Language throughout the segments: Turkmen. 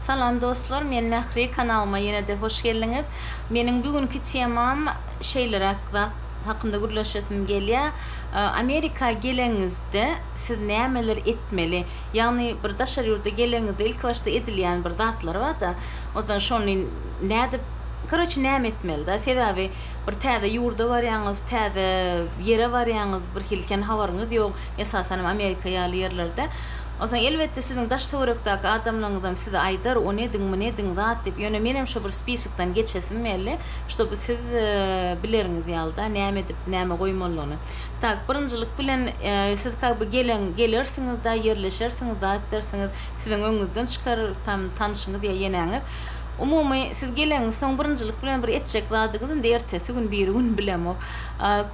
Salam dostlar men Mähri kanalyma ýene-de hoş geldiňiz. Meniň bu günki temam şeýleräk zat hakynda gürleşesim gelýär. Amerika geleniňizde siz nämeler etmeli? Ýagny bir daşary ýurda geleniňizde ilki başda edilýän bir zatlar bar-da. Onsoň şony nädip, koroçi näme etmeli-da? Sebäbi Bir täze ýurda barýaňyz, täze ýere barýaňyz, birhili kän habaryňyz ýok, esasan hem Amerika ýaly ýerlerde. Onsoň, elbetde, siziň daş-töwerekdäki adamlaryňyzam size aýdar, ony ediň, muny ediň, zat diýip. Ýöne menem şo bir spisokdan geçesim geldi, ştoby siz bileriňiz ýaly-da, näme edip, näme goýmalydygyny. Tak, birinjilik bilen, siz ka by gelen, gelersiňiz-de, ýerleşersiňiz, zat edersiňiz, siziň öňüňizden çykar tam tanyşyňyz ýa ýeneňiz. Umumy, siz geleňsoň birinjilik bilen bir etjek zadyňyz indi ertesi gün, biri gün bilemok,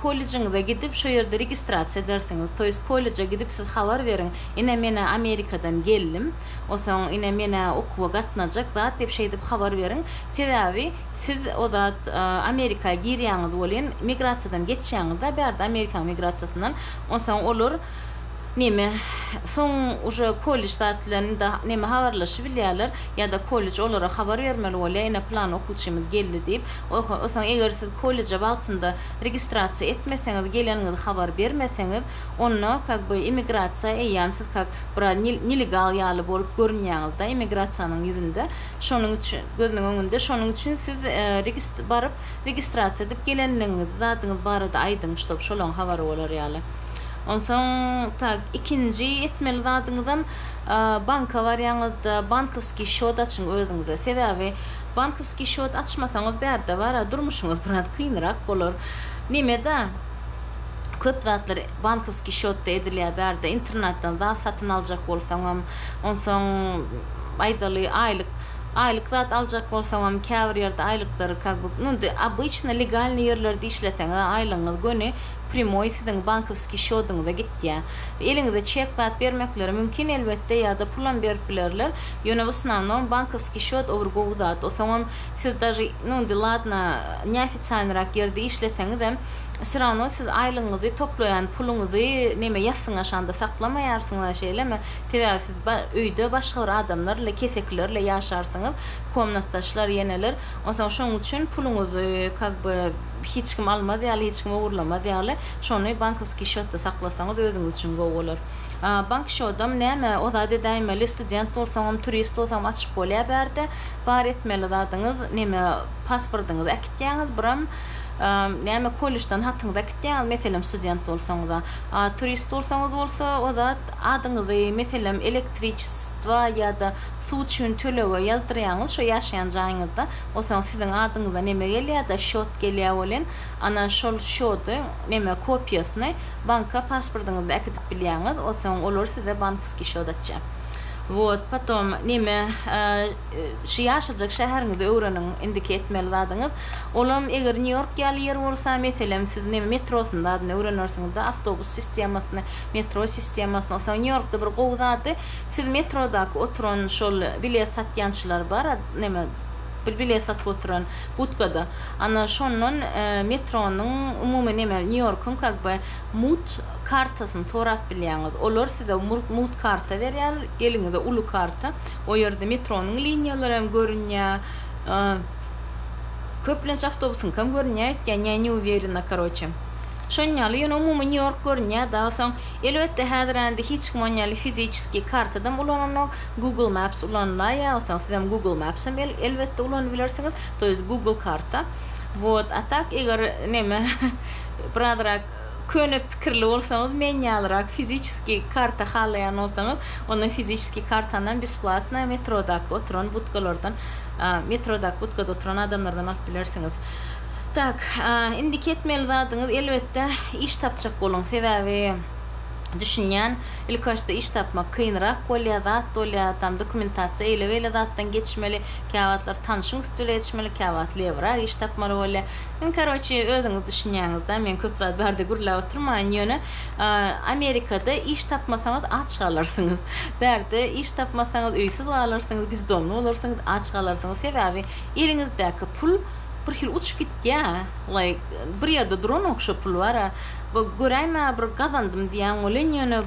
kollejiňize gidip, şo ýerde registrasiýa edersiňiz. To ýest kolleja gidip siz habar beriň, ine men-ä Amerikadan geldim, osoň ine men-ä okuwa gatnajak zat diýip şeýdip habar beriň. Sebäbi siz o zat Amerika girýäňiz welin migrasiýadan geçýäňiz-de bärde Amerikanyň migrasiýasyndan, onsoň olar, Neme, soň uje kollej zatlaryny da neme habarlaşybilýärler, ýa-da kollej olara habar bermeli bolýar, ine plan okuwçymyz geldi diýip. Oho, o soň eger siz kolleje wagtynda registrasiýa etmeseňiz, geleniňizi habar bermeseňiz, onda kak by immigrasiýa eýýäm siz kak biraz nil nelegal ýaly bolup görünýäňizde immigrasiýanyň ýüzünde, şonuň üçin, gözüniň öňünde, şonuň üçin siz regist baryp registrasiýa edip gelenligiňizi, zadyňyz barada aýdyň, ştob şolaň habary bolar ýaly. Onsoň tak ikinji etmeli zadyňyzam banka barýaňyzda bankowskiý şot açyň özüňize. Sebäbi bankowskiý şot açmasaňyz bärde bara durmuşyňyz biraz kynrak bolar. Nemeda köp zatlar bankowskiý şotda edilýär bärde internatdan zat satyn aljak bolsaňam, onsoň aýdaly aýlyk aýlyk zat aljak bolsaňam käbir ýerde aýlyklary kak bu indi obyçny legalnyý ýerlerde işleseňiz aýlygyňyz göni primoý siziň bankowskiý şodyňyza gitýär. Eliňize çek zat bermekleri mümkin elbetde ýada pulam berip bilerler, ýöne vosnanom bankowskiý şot o bir gowy zat, osoňam siz daže nu indi ladna neofitsialnyrak ýerde işleseňizem syrawno siz aýlygyňyzy toplaýan puluňyzy neme ýassyňa şanda saklamaýarsyňyza şeýlemi, sebäbi siz ba öýde başga bir adamlar ile kesekiler ile ýaşarsyňyz, komnatdaşlar ýeneler, onsoň şoň üçin puluňyzy kak by hiç kim almaz ýaly, hiç kim ogurlamaz ýaly, şony bankowskiý şýotda saklasaňyz özüňiz üçin gowy bolar. Bank şýodam näme, o zat edäýmeli, student bolsaňam, turist bolsaňam açyp bolýar bärde. Bar etmeli zadyňyz, neme, pasportyňyzy äkitýäňiz, biram, näme, kollejden hatyňyzy äkitýäňiz, meselem, student bolsaňyz-a. A turist bolsaňyz bolsa, o zat, adyňyzy, meselem, elektriçestwa ýa-da suw üçin tölege ýazdyrýaňyz, şo ýaşaýan jaýyňyzda. Onsoň siziň adyňyza neme gelýärda şot gelýär welin ana şol şody neme kopiýasyny banka pasportyňyzda äkidip bilýäňiz onsoň olar size bankuskiý şot açýar wot potom neme şu ýaşajak şäheriňizi öwreniň indiki etmeli zadyňyz olam eger nýu ýork ýaly ýer bolsa meselem siz neme metrosyny zadyny öwrenersiňizda awtobus sistemasyny metro sistemasyny onsoň nýu ýorkda bir gowy zady Siz metrodaky oturan şol bilet satýançylar bar a neme bir bilet satyp oturan budkada ana şondan metronyň umumy neme New Yorkyň kak by mut kartasyny sorap bilýäňiz olar size murt mut karta berýär eliňize uly karta o ýerde metronyň liniýalary hem görünýä a köplenç awtobusyňkam görünýä öýtýän ýa ne uwerena karoçe şon ýaly ýöne umumy New York görünýä daa soň Elbetde häzir ände hiç kim on ýaly fiziçeskiý kartadam ulananok, Google Maps ulanylaý ýa bolsaň sizem Google Mapsam elbetde ulanyp bilersiňiz, to ýest Google karta. Wot, a tak eger neme birazrak köne pikirli bolsaňyz men ýalyrak fiziçeskiý karta halaýan bolsaňyz onda fiziçeskiý kartanam besplatnaý metrodaky oturan budkalardan metrodaky budkada oturan adamlardan alyp bilersiňiz. Tak, indiki etmeli zadyňyz elbetde iş tapjak boluň. Sebäbi düşünýän, ilkibaşda iş tapmak kynrak bolýar, zat bolýar, tam dokumentasiýa eýle-beýle zatdan geçmeli, käwagtlar tanşyň üsti bile geçmeli, käwagt lebrak iş tapmaly bolýar. Iň karoçi özüňiz düşünýäňiz-dä, men köp zat barada gürläp oturmaýyn, ýöne Amerikada iş tapmasaňyz aç galarsyňyz. Bärde iş tapmasaňyz öýsüz galarsyňyz, bizdomly bolarsyňyz, aç galarsyňyz. Sebäbi eliňizdäki pul Bir hili uçup gitýä laý bir ýerde duranok şo pul bara we göräýmä bir gazandym diýýän welin ýöne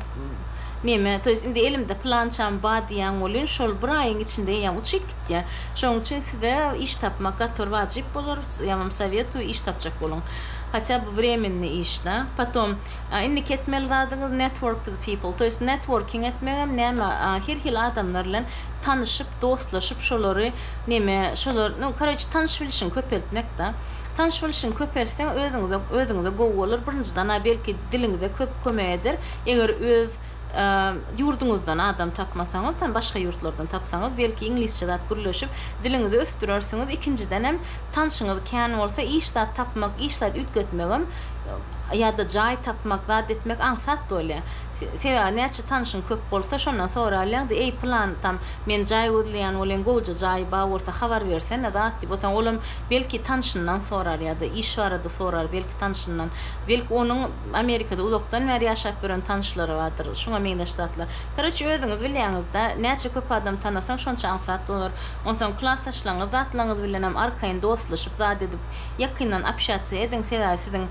neme to ýest indi elimde pylançam bar diýýän welin şol bir aýyň içinde ýa uçup gitýä şonuň üçin size iş tapmak gaty bir wajyp bolar ýa wam sowetui iş tapjak boluň hatýa by wremenni iş da potom indiki etmeli zadyňyz network with people to ýest networking etmegem näme her hili adamlar bilen tanyşyp dostlaşyp şolary neme şolar nu koroçi tanyş bilişiňi köpeltmek da tanyş bilişiňi köpeltseň özüňize özüňize gowy bolar birinjiden a belki diliňize köp kömek eder eger öz ýurduňyzdan adam tapmasaňyz tam başga ýurtlardan tapsaňyz belki iňlisçe zat gürleşip diliňizi ösdürersiňiz ikinjidenem tanşyňyz kän bolsa iş zat tapmak iş zat üýtgetmegem ýada jaý tapmak zat etmek aňsat bolýa. Sebäbi näçe tanyşyň köp bolsa şondan soralýaňda eý pylanytam men jaý gözleýän bolyň gowja jaýy bar bolsa habar bersene zat diýip otaň olam belki tanyşyndan sorar ýada iş barada sorar belki tanyşyndan belki onuň Amerikada uzakdan bäri ýaşap ýören tanyşlary bardyr şuňa meňzeş zatlar karoçe özüňiz bilýäňizda näçe köp adam tanasaň şonça aňsat bolar onsaň klasdaşlaňyz zatlaňyz bilenem arkaýyn dostlaşyp zat edip ýakyndan apşýatsiýa ediň sebäbi siziň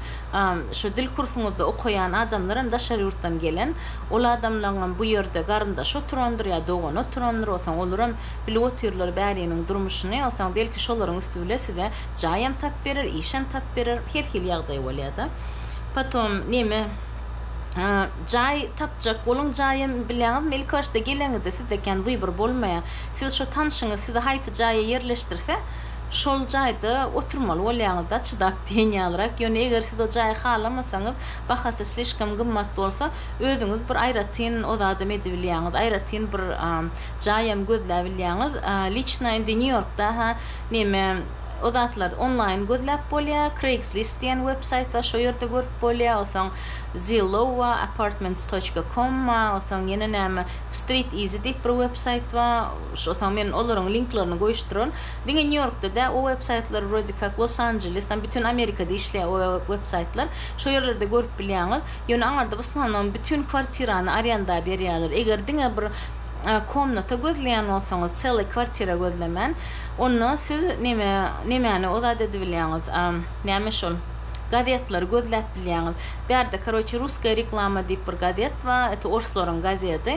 Şu dil kursuňyzda okaýan adamlar hem daşary ýurtdan gelen. Ol adamlaň hem bu ýerde garyndaşy oturandyr ýa dogany oturandyr. Osaň olar hem bilip otyrlar bäriniň durmuşyny. Osaň belki şolaryň üsti bile size jaý hem tap berer, iş hem tap berer. Her hili ýagdaý bolýada. Potom neme jaý tapjak boluň jaý hem bilýaňizmi ilki başda geleňizde sizde kän wybor bolmaýa. Siz şo tanşyňyz sizi haýsy jaýa ýerleşdirse, Şol jaýda oturmaly bolýaňyzda çydap diýen ýalyrak, ýöne eger siz o jaýy halamasaňyz, bahasy slişkom gymmat bolsa, özüňiz bir aýratyn o zadam edibilýäňiz, aýratyn bir jaýam gözläbilýäňiz. Liçna indi Nýu-Ýorkda-ha neme o zatlar onlaýn gözläp bolýa, Craigslist diýen websaýt bar, şo ýerde görüp bolýa, osaň Zillow wa, Apartments. Com wa, osaň ýene näme, Street Easy diýip bir websaýt bar, Soň men olaryň linklerini goýuşdyraryn. Diňe Nýu Ýorkda däl, o web saýtlar wrode kak Los Anjeles, tam bütin Amerikada işleýär o web saýtlar. Şo ýerlerde görüp bilýäňiz. Ýöne aňarda w osnownam bütin kwartirany arýanda berýärler. Eger diňe bir komnata gözleýän bolsaňyz, çelly kwartira gözlemän, onda siz neme nemäni ozat edibilýäňiz, näme şol, gazetleri gözläp bilýäňiz. Bärde karoçe Russkaya reklama diýip bir gazet bar, et orslaryň gazedi.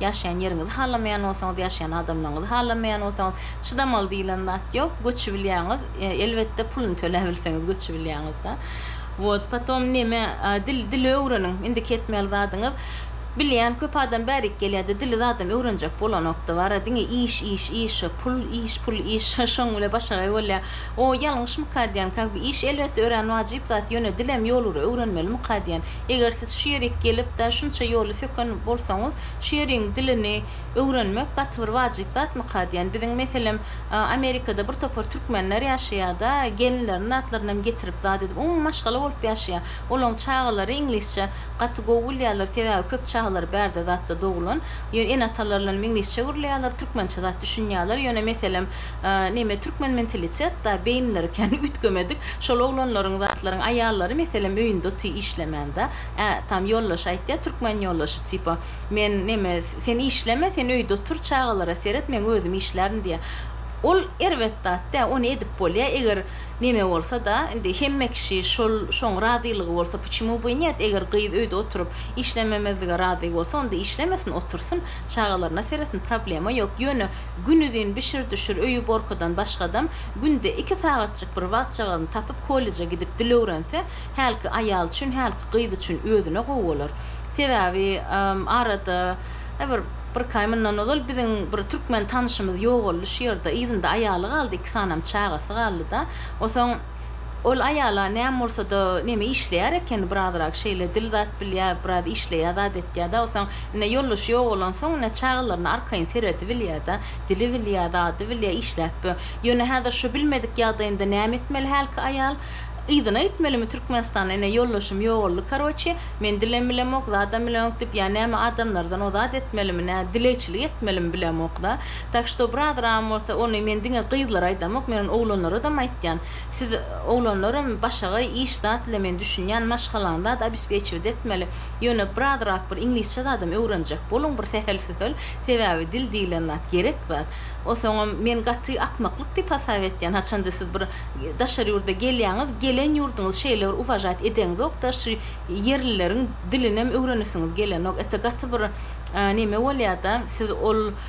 Ýaşaýan ýeriňizi halamaýan bolsaňyz, ýaşaýan adamlaryňyzy halamaýan bolsaňyz, çydamaly diýilen zat ýok, göçübilýäňiz, elbetde puluny töläbilseňiz göçübilýäňizda. Wot, potom neme, dil, dili öwreniň, indiki etmeli zadyňyz, bilýän köp adam bärik gelýärdi, dili zadam öwrenjek bolanokdy, bara diňe iş, iş, iş, pul, iş, pul, iş, şoň bile başagaý bolýar. O, ýalňyşmyka diýen, ka, bu iş elbetde örän wajyp zat, ýöne dilem ýolury öwrenmelimika diýen. Eger siz şu ýerik gelip-de şunça ýoly söken bolsaňyz, şu ýeriň dilini öwrenmek gaty bir wajyp zatmyka diýen. Biziň meselem, Amerikada bir topar türkmenler ýaşaýar-da, gelinlerini zatlarynam getirip zat edip, umumy maşgala bolup ýaşaýar. Olaň çagalary iňlisçe gaty gowy bilýärler, sebäbi köp çagalary bärde zatda dogulan. Ýöne ene-atalarynam iňlisçe gürleýärler, türkmençe zat düşünýärler. Ýöne meselem, Neme türkmen mentalitet da beýinleri kän üýtgemedik şol oglanlaryň zatlaryň aýallary meselem öýünde oty işlemän da ä tam ýoldaşy aýtýa türkmen ýoldaşy tipa men neme sen işleme sen öýde otur çagalara seret men özüm işlärin diýä ol erbet zat dä ony edip bolýa eger neme bolsa da indi hemme kişi şol şoň razylygy bolsa puçemu by net eger gyz öýde oturyp işlememezlige razy bolsa onda işlemesin otursyn çagalaryna seretsin problema ýok ýöne Günuzyn bişir-düşür öýi-borkudan başgadam, günde iki sagatjyk bir wagtjagazyny tapyp kolleje gidip dil öwrense, hälki aýal üçin, hälki gyz üçin özüne gowy bolar. Sebäbi, arada, bir birki aý mundan ozal biziň bir türkmen tanyşymyz ýogaldy şu ýerde. Yzynda aýaly galdy, iki sanam çagasy galdy-da. Onsoň. Ol aýala näme bolsa-da, neme işleýär ekeni, birazrak şeýle dil zat bilýär, biraz işleýär, zat etýär, daýysoň, ine, ýoldaşy ýok bolansoň, ine, çagalaryna arkaýyn seredibilýär-de, dili bilýär, zady bilýär, işläp bö. Ýöne häzir şu bilmedik ýagdaýynda näme etmeli hälki aýal? Yzyna gitmelimi Türkmenistana, ine, ýoldaşym ýogaldy, karoçi, men dilem bilemok, zadam bilemok diýip, ýa näme adamlardan ozat etmelimi, nä, dilegçilik etmelimi bilemok-da. Tak što brazram bolsa ony men diňe gyzlara aýdamok men ony oglanlaradam aýtýan. Siz oglanlaram başagaý iş zat bilen men düşünýän maşgalaňy zat obespečiwit etmeli. Ýöne brazrak bir iňlisçe zadam öwrenjek boluň bir sähel-sühel sebäbi dil diýilen zat gerek zat. O soňam men gaty akmaklyk diýip hasap etýän haçanda siz bir daşary ýurda gelýäňiz gelen ýurduňyz şeýle bir uwažat edeňzokda şu ýerlileriň dilinem öwrenesiňiz gelenok. Ete gaty bir neme bolýada siz ol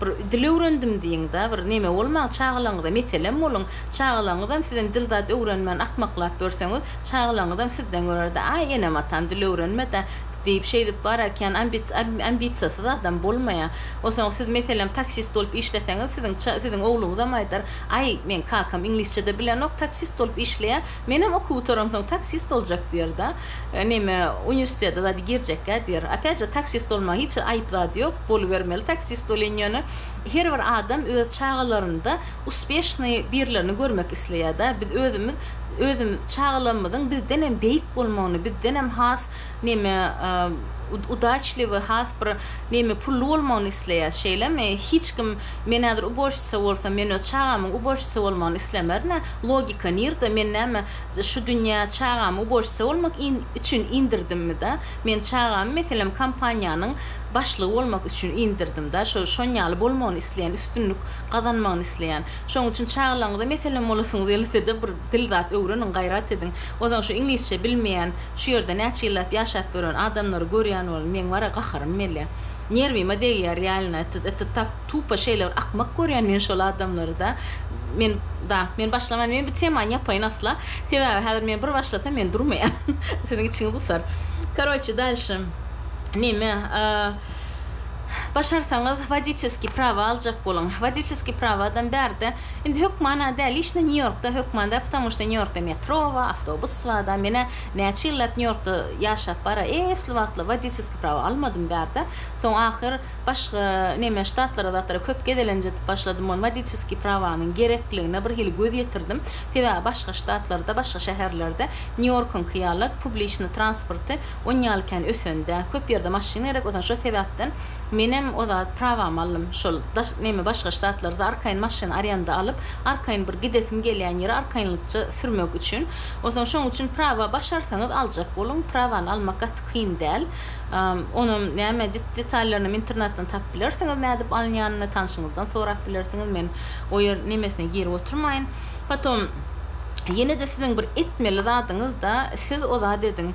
Bir dil öwrendim diýiňda, bir neme bolmaň, çagalaryňyza meselem boluň. Çagalaryňyzam sizem dil zat öwrenmän akmaklap ýörseňiz, çagalaryňyzam sizden görer-de, Aý, enem-atam dil öwrenme-dä! diýip, şeýdip bar ekän. Ambisiýasyz adam bolmaýar. Onsoň siz, meselem, taksist bolup işleseňiz, siziň siziň ogluňyzam aýdar, Aý, meň kakam iňlisçe-de bilenok, taksist bolup işleýär, Menem okuw gutaransoň taksist boljak diýerdi. Näme, uniwersitete zady girjekkä diýer. Opýatje, taksist bolmaň, hiç aýyp zat ýok, bolubermeli taksist bolyň ýöne. Her bir adam öz çagalarynda uspeşnyý birlerini görmek isleýär-dä. Biz özümiz, özümiz çagalarymyzyň bizdenem beýik bolmagyny, bizdenem has neme udaçliwy has bir neme pully bolmagyny isleýäs şeýlemi hiç kim men häzir ubožçica bolsam men öz çagamyň ubožçica bolmagyny islemernä logika nirde men näme şu dünýä çagamy ubožçica bolmak in üçin indirdimida men çagamy meselem kompaniýanyň başlygy bolmak üçin indirdimda şo şon ýaly bolmagyny isleýän üstünlik gazanmagyny isleýän şoň üçin çagalaryňyza meselem bolasyňyz gelsede bir Dil zat öwreniň gaýrat ediň. Ozan şu iňlisçe bilmeýän şu ýerde näçe ýyllap ýaşap ýören adamlary görýän bolan meň bara gaharym mele. Nerwime degýär reallna et et tak tupa şeýle bir akmak görýän men şol adamlary da men da men başlaman men bu temany ýapaýyn asla sebäbi häzir men bir başlasam men durmaýan siziň içiňiz gysar karoçe dalşy neme başarsaňyz woditesky prawa aljak boluň woditesky prawadam bärde Indi hökmana däl işine Nýu Ýorkda hökman däl ptomu şda Nýu Ýorkda metro bar awtobus bar da menä näçe ýyllap Nýu Ýorkda ýaşap bara esli wagtlar wodiýskiý prawa almadym bärde soň ahyr başga neme ştatlara zatlara köp gezelenjedip başladym ony wodiýskiý prawanyň gerekligine bir hili göz ýetirdim sebäbi başga ştatlarda başga şäherlerde Nýu Ýorkyňky ýaly publiçny transporty onýaly kän ösen däl köp ýerde maşyn gerek o şo sebäpden Menem o zat prawamy aldym şol daş neme başga ştatlarda arkaýyn maşyn arýanda alyp arkaýyn bir gidesim gelýän ýere arkaýynlykça sürmek üçin onsoň şoň üçin prawa başarsaňyz aljak boluň prawany almak gaty kyn däl onam näme detallarynam internetden tapyp bilersiňiz nädip alynýanyny tanşyňyzdan sorap bilersiňiz men o ýer nemesine girip oturmaýyn potom ýenede siziň bir etmeli zadyňyzda siz o zat ediň.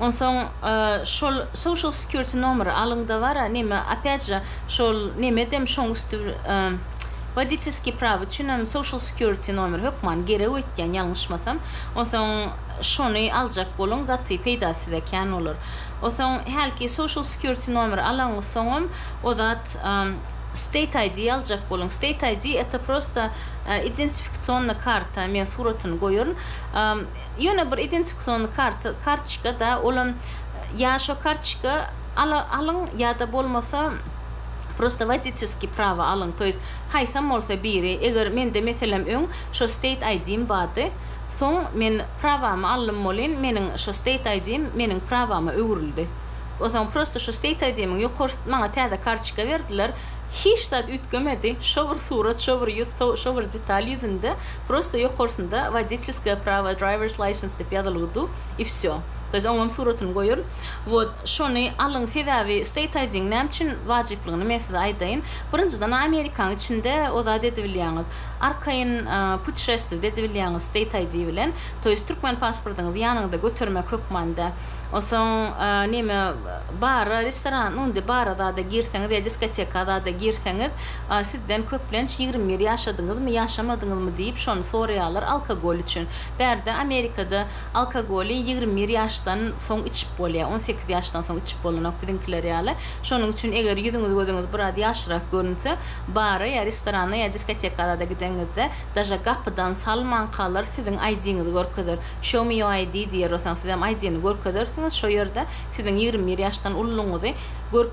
Onsoň şol social security nomeri alyňda bara neme opyat je şol nemedem şoň üsti woditelskiý prawa üçinem social security nomeri hökman gerek öýtýän ýalňyşmasam onsoň şony aljak boluň gaty peýdasyz ekän olar onsoň hälki social security nomeri alaňyz soňam o zat state ID aljak boluň state ID eto prosta identifikasyonna karta men suratyny goýaryn. Ýöne bir identifikasion karty, kartoçka-da, olam ýa şo kartoçka ala, alyň, ýa-da bolmasa prosta woditeskiý prawa alyň, to ýest haýsam bolsa biri, eger mende meselem öň şo state ID-m bardy, soň men prawamy aldym welin meniň şo state ID-m meniň prawama öwrüldi. Onsoň prosta şo state ID-miň ýokarsy maňa täze kartoçka berdiler, hiç zat üýtgemedi, şo bir surat, şo bir ýüz, so, şo bir detal ýüzünde, Prosto ýokarsynda wodiçeskaya prawa drivers license dep ýazylygy du i vsё. Biz oňam suratyny goýarys. Wot şony alyň sebäbi state ID-niň näme üçin wajyplygyny men size aýdaýyn. Birinjiden a amerikanyň içinde o zady edibilýäňiz. Arkaýyn putişestwiýde edibilýäňiz state ID bilen. To ýest türkmen pasportyňyzy ýanyňyzda götermek hökmanda. Onsoň neme bara restoran nu indi bara zada girseňiz ýa diskoteka zada girseňiz A sizden köplenç ýigrimi bir ýaşadyňyzmy, ýaşamadyňyzmy diýip şony soraýarlar alkogol üçin. Bärde Amerikada alkogoly ýigrimi bir ýaşdan soň içip bolýar. On sekiz ýaşdan soň içip bolanok biziňkiler ýaly. Şonuň üçin eger ýüzüňiz gözüňiz biraz ýaşyrak görünse, bara ýa restorana ýa diskotekalara-da gideniňizde daže gapydan salmankalar siziň ID-ňizi görkezer. Show me your ID diýer osaň sizem ID-ni görkezersiňiz şo ýerde siziň ýigrimi bir ýaşdan ululygyňyzy görk.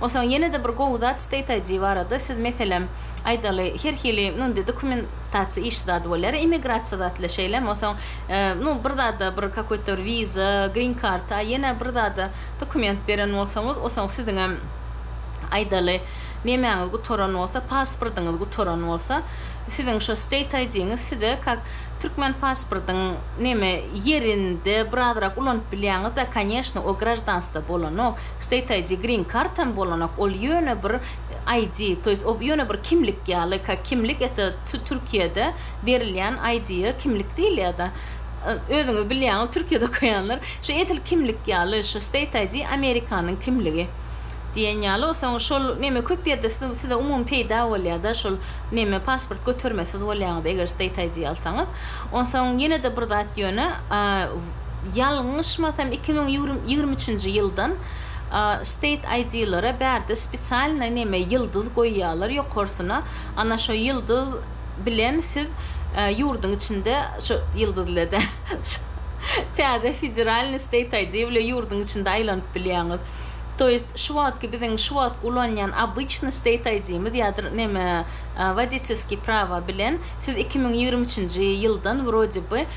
Onsoň ýene-de bir gowy zat state ID barada siz meselem aýdaly her hili mundy dokumentasiýa işi zady bolýar immigrasiýa zatly şeýlemi onsoň nu bir zada bir kakoý to bir wiza green card a ýene bir zada dokument beren bolsaňyz onsoň siziňem aýdaly nemäňiz gutaran bolsa pasportyňyz gutaran bolsa siziň şo state ID-ňiz size kak türkmen pasportyň neme ýerinde birazrak ulanyp bilýäňiz-de koneşno o graždanstwo bolanok State ID, green card hem bolanok, ol ýöne bir ID, to ýest ol ýöne bir kimlik ýaly, ka kimlik ete tu Türkiýede berilýän ID-ýe kimlik diýilýärda. Özüňiz bilýäňiz Türkiýede okaýanlar, şu edil kimlik ýaly, şu state ID Amerikanyň kimligi diýen ýaly, o soň şol neme köp ýerde siz size umumy peýda bolýarda şol neme pasport götermesiz bolýaňyz eger state ID alsaňyz. Onsoň ýene-de bir zat ýöne, a, Ýalňyşmasam iki müň ýigrimi üçünji ýyldan state aýdylary bärde spesialnyý neme ýyldyz goýýalar ýokarsyna ana şo ýyldyz bilen siz ýurdyň içinde şo ýyldyz ile dä täze federalnyý state aýdy bile ýurdyň içinde aýlanyp bilýäňiz to ýest şu wagtky biziň şu wagt ulanýan obyçnyý state aýdymiz ýadyr neme woditelsky prawa bilen siz iki müň ýigrimi üçünji ýyldan wrode by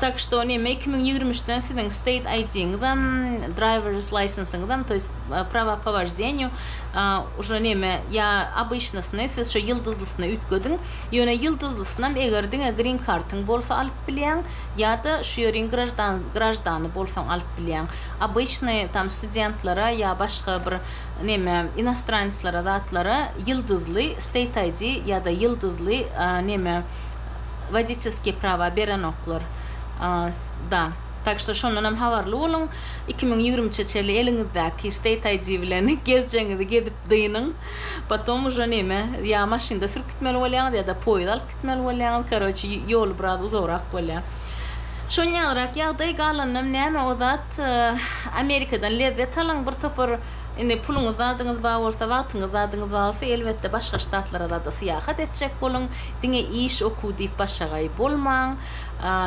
Tak şto näme iki müň ýigrimi üçden siziň state ID-ňizem driver's licensyňyzam to ýest prava po wojdenýu uža näme ýa obyçnysyny siz şo ýyldyzlysyny üýtgediň ýöne ýyldyzlysynam eger diňe green kartyň bolsa alyp bilýäň ýada şu ýeriň graždan graždany bolsaň alyp bilýäň obyçny tam studentlara ýa başga bir näme inostraneclara zatlara ýyldyzly state ID ýada ýyldyzly näme wodiçeskiý prawa berenoklar da tak şto şondanam habarly boluň iki müň ýigrimi üçe çenli eliňizdäki state ID bilen gezjegiňizi gezip dynyň potom uže neme ýa maşynda sürüp gitmeli bolýaňyz ýa da poýiz alyp gitmeli bolýaňyz karoçe ýoly biraz uzagrak bolýa şon ýalyrak ýagdaý galanynam näme o zat amerikadan lezzet alyň bir topar indi puluňyz zadyňyz bar bolsa wagtyňyz zadyňyz bar bolsa elbetde başga ştatlara zada syýahat etjek boluň. Diňe iş okuw diýip başagaý bolmaň.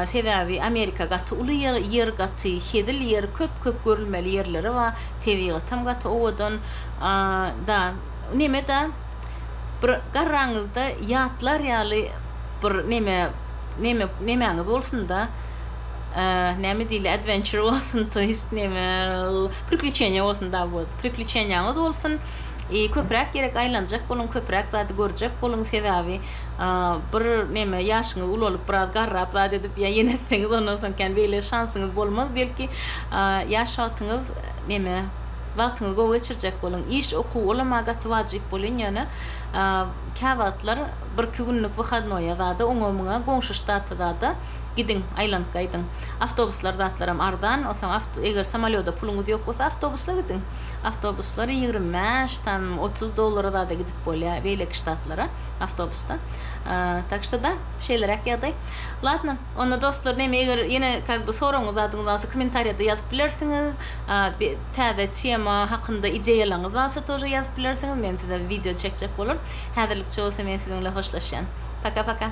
Sebäbi Amerika gaty uly ýer gaty hezil ýer köp köp görülmeli ýerleri bar tebigatam gaty owadan da neme da bir garraňyzda ýatlar ýaly bir neme neme nemäňiz bolsunda näme diýli adventure bolsun toýst neme prikliçeniýa bolsun da wot prikliçeniýaňyz bolsun. Köpräk gerek aýlanjak boluň köpräk zady görjek boluň sebäbi bir neme ýaşyňyz ulalyp biraz garrap zat edip ýa ýene etseňiz ondan soň kän beýle şansyňyz bolmaz belki ýaş wagtyňyz neme wagtyňyz gowy geçirjek boluň iş okuw olam maňa gaty wajyp bolýan ýöne kä wagtlar bir iki günlük wyhadnoýa zada oňa muňa goňşy ştata zada gidiň aýlanyp gaýdyň awtobuslar zatlaram arzan onsoň eger samolýoda puluňyz ýok bolsa awtobusla gidiň. awtobuslar ýigrimi bäş tam otuz dollara zada gidip bolýar beýleki ştatlara awtobusda tak şo da şeýleräk ýagdaý latno onda dostlar neme eger ýene kak by soragyňyz zadyňyz barsa komentariýada ýazyp bilersiňiz täze tema hakynda ideýalaryňyz barsa tože ýazyp bilersiňiz men size wideo çekjek bolar häzirlikçe bolsa men siziň bilen hoşlaşýan paka paka.